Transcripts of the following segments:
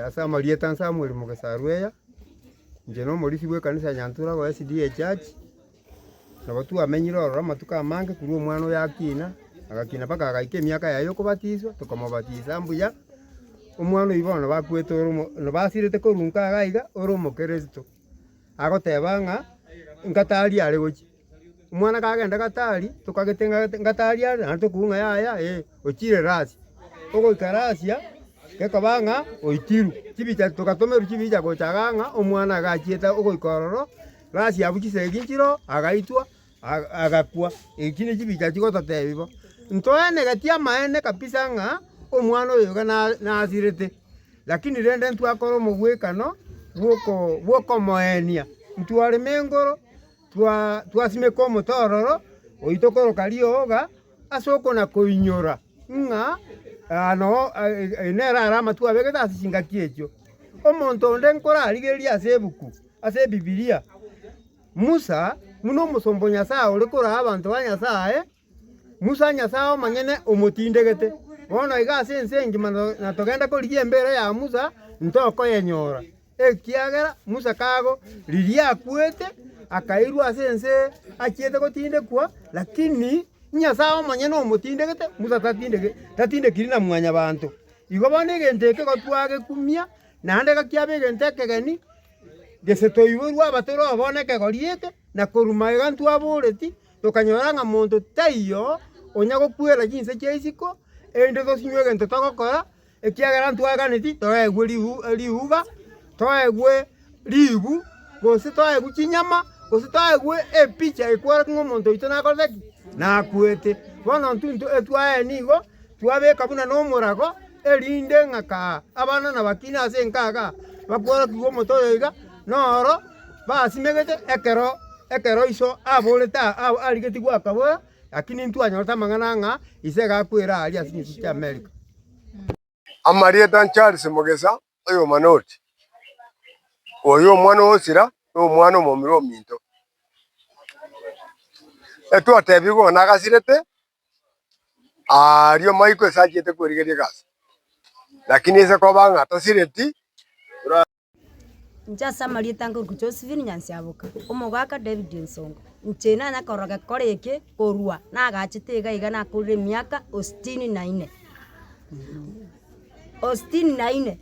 Ase amarieta nse Samuel Mugesaru eya, inche nomorisia bw'ekanisa ya Nyantura Royal SDA Church, nabo twamenyire ororo amatuko amange korwa omwana oyo akina, agakina mpaka agaika emiaka yaye y'okobatiswa, tokomobatisa mbuya, omwana oyio bono nabo akwete ore omo nabo asirete korwa inkaa iga ore omokeresito, agoteba ng'a ingatari are gochia. Omwana kagenda gatari, tokagete ng'a ngatari are, naende tokigwa ng'a yaya eh, ochire rasi. Ogoika rasia, gekoba ng'a oitirwe, chibicha togatomerwa chibicha gocha iga ng'a omwana iga achiete ogoika ororo, rasi abwo chisegi nchire oo, agaitwa aga agakwa. Echio ne chibicha chigototebia bo. Ntoenegeti amaene kabisa ng'a omwana oyo iga na- nasirete, lakini rende ntwakora omogwekano bw'oko bw'okomoenia, ntware mengoro. twasimeka omotororo oito koroka rioga ase okona-koinyora ng'a aa noo nere ara amatwe abegete ase chingaki echio. Omonto onde nkorarigereria ase ebuku ase Ebibilia, Musa, buna omosomba o Nyasaye ore korao abanto ba Nyasaye. Musa, Nyasae omonyene omotindegete. Bono iga ase ense engima natogende korigia embeera ya Musa, ntokoyenyora, ekiagera Musa kago riria akwete, akairwa ase ense achiete gotindekwa, lakini Nyasae omonyene omotindegete, Musa tatindekiri na mwanyabanto. Igo bono egento eke gotwagekumia, naende gakiaba egento ekegeni, gese toiborwa abatore oo bono ekegori eke, na korwa magega ntwaboreti, Tokanyora ng'a monto taiyo onya gokwera chinse chia isiko, erinde tosinywe egento togokora, ekiagera ntwaganeti toegwe ribu ribuga, toegwe ribu, gose toegwe chinyama, gose toegwe epicha ekwerete ng'a omonto oito nakorete ki? Nakwete. Bono intwe intwe etwaye nigo, twabeka buna nomorago. erinde ng'aka abana nabakina ase enkaga bakworokigwe omote oyo iga, noro basimegete ekero ekero iso aborete aa arigetie goaka boigo, lakini ntwanyorete amang'ana ng'a ise iga akwera aaria ase chinsinsi chi'Amerika. Amarieta a Charles Mogesa, oyomana oti, Oyo omwana o Osira na omwana omomura ominto. Etwatebigwe ng'a nagasirete Aaria omoika osachiete kwerigeria egasi, lakini ise koba ng'a tosireti. Inche ase amarieta ange oruku Josephine Nyansiaboka, omogaka David Nsonko, inche nanya korora gekore eke korwa nagachete iga iga nakorire emiaka o sitini na ine o sitini na ine.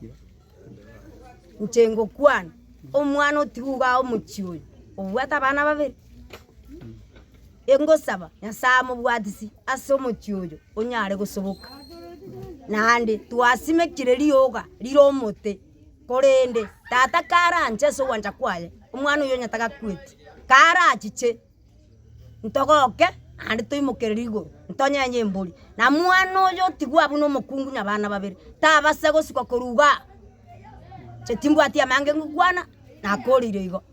Inche ngokwana omwana otigwe igaa omochie oyo, obwate abana babere. Ingosaba, Nyasae amobwatisi ase omochie oyo onyare gosoboka. Naende twasimekire rioga rire omote, korende tata karanche ase ogwancha kwaye, omwana oyio onye tagakweti, karachiche ntogoke naende toimokerere igoro ntonyenye embori. Na mwana oyo otigwe abwo na omokungu na abana babere, tabase gosuka korwa igaa, inche timbwati amange ngokwana, nakorire igo.